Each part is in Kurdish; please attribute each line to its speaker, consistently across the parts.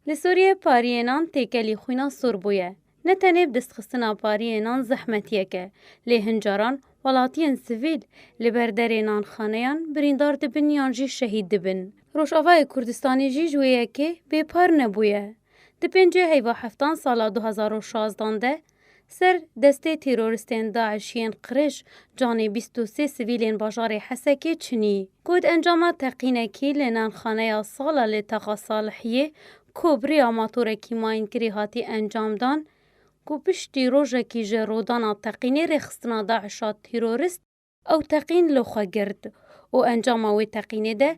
Speaker 1: Li Sûriyê pariyê nan têkelî xwîna sor bûye. Ne tenê bi destxistina pariyê nan zehmetiyek e, lê hin caran welatiyên sivîl li ber derê nanxaneyan birîndar dibin yan jî şehîd dibin. Rojavayê Kurdistanê jî ji wê yekê bêpar nebûye. Di pêncê heyva heftan sala du hezar û şazdan de Ser destê têroristên DAIŞ yên qiriş, canê bîst û sê sivîlên bajarê Hesekê çinî. Got encama teqînekî li nanxaneya Sala li Taxa Salihiyê ku bi rêya matorekî mayînkirî hatî encamdan, ku piştî rojekî ji rodana teqînê rêxistina DAIŞa tîrorist, Ew teqîn li xwe girt û encama wê teqînê de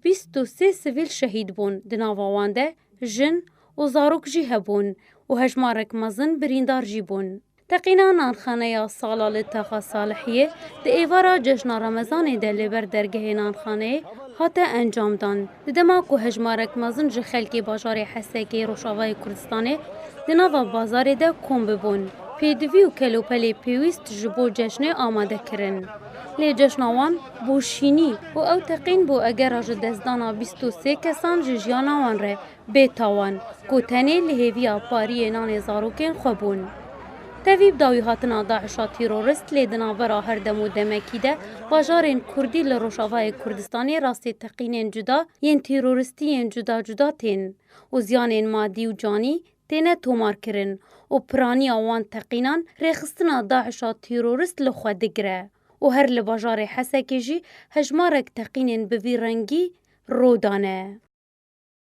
Speaker 1: bîst û sê sivîl şehîd bûn, di nava wan de jin û zarok jî hebûn û hejmarek mezin birîndar jî bûn. Teqîna nanxaneya sala li Taxa Salihiyê di êvara cejna Remezanê de li ber dergehê nanxaneyê hate encamdan. Di dema ku hejmarek mezin ji xelkê bajarê Hesekê Rojavayê Kurdistanê di nava bazarê de kom bibûn, pêdivî û kelopelê pêwîst ji bo ceşnê amade kirin. Lê ceşna wan bû şînî û ew teqîn bû egera ji destdana bîst û sê kesan ji jiyana wan re bê tawan, ku tenê li hêviya pariyê nanê zarokên xwe bûn. Tevî bi dawî hatina DAIŞ'a tîrorist lê di navbera her dem û demekî de bajarên kurdî li Rojavayê Kurdistanê rastê teqînên cuda yên tîroristî yên cuda cuda tên û ziyanên madî û canî têne tomarkirin û piraniya wan teqînan rêxistina DAIŞ'a tîrorist li xwe digire û her li bajarê Hesekê jî hejmarek teqînên bi vî rengî rû dane.